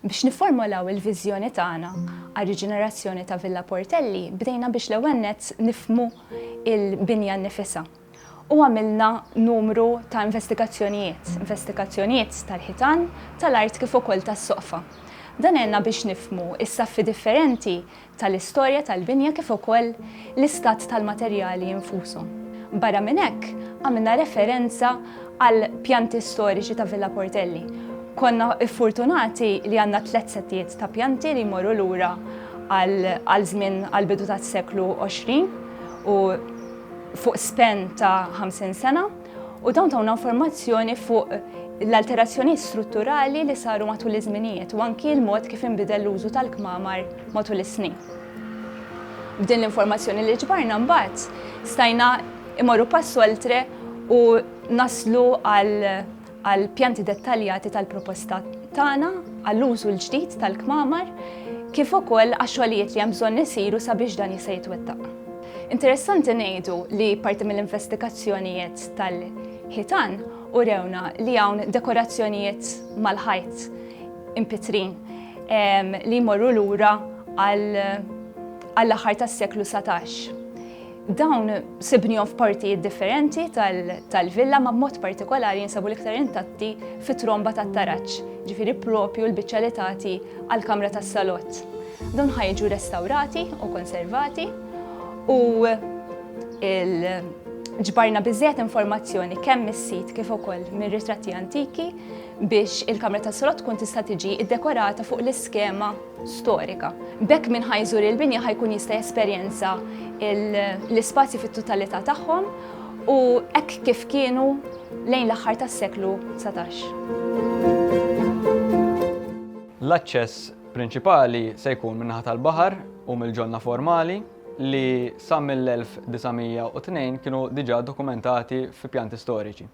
Biex nifformolaw il-viżjoni tagħna għar-riġenerazzjoni ta' Villa Portelli, bdejna biex l-ewwel nett nifhmu l-binja nnifisha. U għamilna numru ta' investigazzjonijiet, investigazzjonijiet tal-ħitan, tal-art kif ukoll tas-soqfa. Dan għenna biex nifhmu s-saffi differenti tal-istorja tal-binja kif ukoll l-istat tal-materjali infushom. Barra minn hekk, għamilna referenza għal pjanti storiċi ta' Villa Portelli. Konna ffortunati li għandna tliet settijiet ta' pjanti li jmorru lura għal żmien għall-bidu tas-seklu għoxrin u fuq span ta' ħamsin sena. U dawn tawna informazzjoni fuq l-alterazzjonijiet strutturali li saru matul iż-żminijiet u anki l-mod kif inbidel l-użu tal-kmamar matul is-snin. B'din l-informazzjoni li ġbarna mbagħad stajna imorru pass oltre u naslu għal pjanti dettaljati tal-proposta tagħna għall-użu l-ġdid tal-kmamar kif ukoll għax-xogħlijiet li hemm bżonn isiru sabiex dan jista' jitwettaq. Interessanti ngħidu li parti mill-investigazzjonijiet tal-ħitan urewna li hawn dekorazzjonijiet mal-ħajt impitrin ehm, li jmorru lura għall-aħħar tas-seklu 17. Dawn sibnihom f'partijiet differenti tal-villa ma b'mod partikolari jinsabu l-iktar intatti fit-tromba tat-taraġġ, ġifieri propju l-biċċa li tagħti għall-kamra tas-salott. Dawn ħa jiġu restawrati u konservati u ġbarna biżżejjed informazzjoni kemm mis-sit kif ukoll mir-ritratti antiki biex il-Kamra ta' Solot tkun tista' tiġi ddekorata fuq l-iskema storika. B'hekk min ħajżur il-binja ħajkun jista' jesperjenza l-ispazji fit-totalità tagħhom u hekk kif kienu lejn l-aħħar tas-seklu dsatax. L-aċċess prinċipali se jkun min-naħa tal-baħar u mill-ġonna formali li sa mill-1902 kienu diġà ddokumentati fi pjanti storiċi.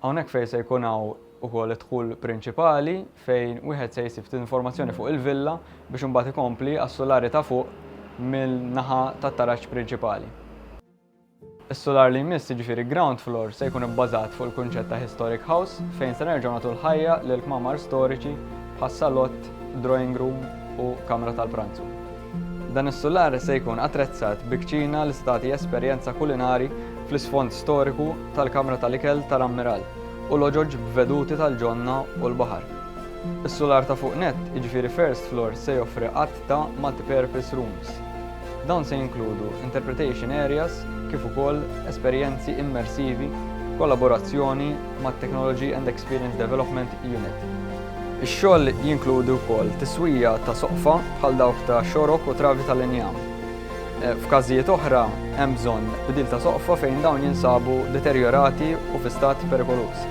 Hawnhekk fejn se jkun hawn ukoll id-dħul prinċipali fejn wieħed se jsib ftit informazzjoni fuq il-villa biex imbagħad ikompli għas-sulari ta' fuq min-naħa tat-taraġ prinċipali. Is-sular li jmiss, jiġifieri Ground Floor, se jkun ibbażat fuq il-kunċett ta' Historic House fejn se nerġgħu nagħtu l-ħajja lil kmamar storiċi bħas-salott, drawing room u kamra tal-pranzu. Dan is-sular se jkun attrezzat bi kċina li se tagħti esperjenza kulinari fl-isfond storiku tal-kamra tal-ikel ta' l-ammiral u loġoġ b'veduti tal-ġonna u l-baħar. Is-sular ta' fuq nett, jiġifieri First Floor, se joffri għadd ta' multipurpose rooms. Dawn se jinkludu interpretation areas kif ukoll esperjenzi immersivi b'kollaborazzjoni mat-Technology and Experience Development Unit. Ix-xogħol jinkludi wkoll tiswija ta' soqfa bħal dawk ta' xorok u travi tal-injam. F'każijiet oħra, hemm bżonn bdil ta' soqfa fejn dawn jinsabu deterjorati u fi stat perikoluż.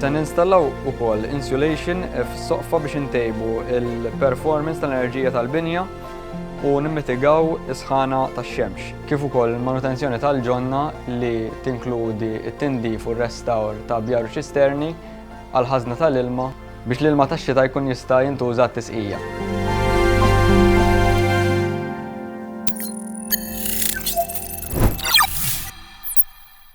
Se ninstallaw ukoll insulation fis-soqfa biex intejbu l-performance tal-enerġija tal-binja u nimmitigaw is-sħana tax-xemx, kif ukoll il-manutenzjoni tal-ġonna li tinkludi t-tindif u r-restawr ta' bjar u ċisterni għall-ħażna tal-ilma, Biex l-ilma tax-xita jkun jista' jintuża għat-tisqija.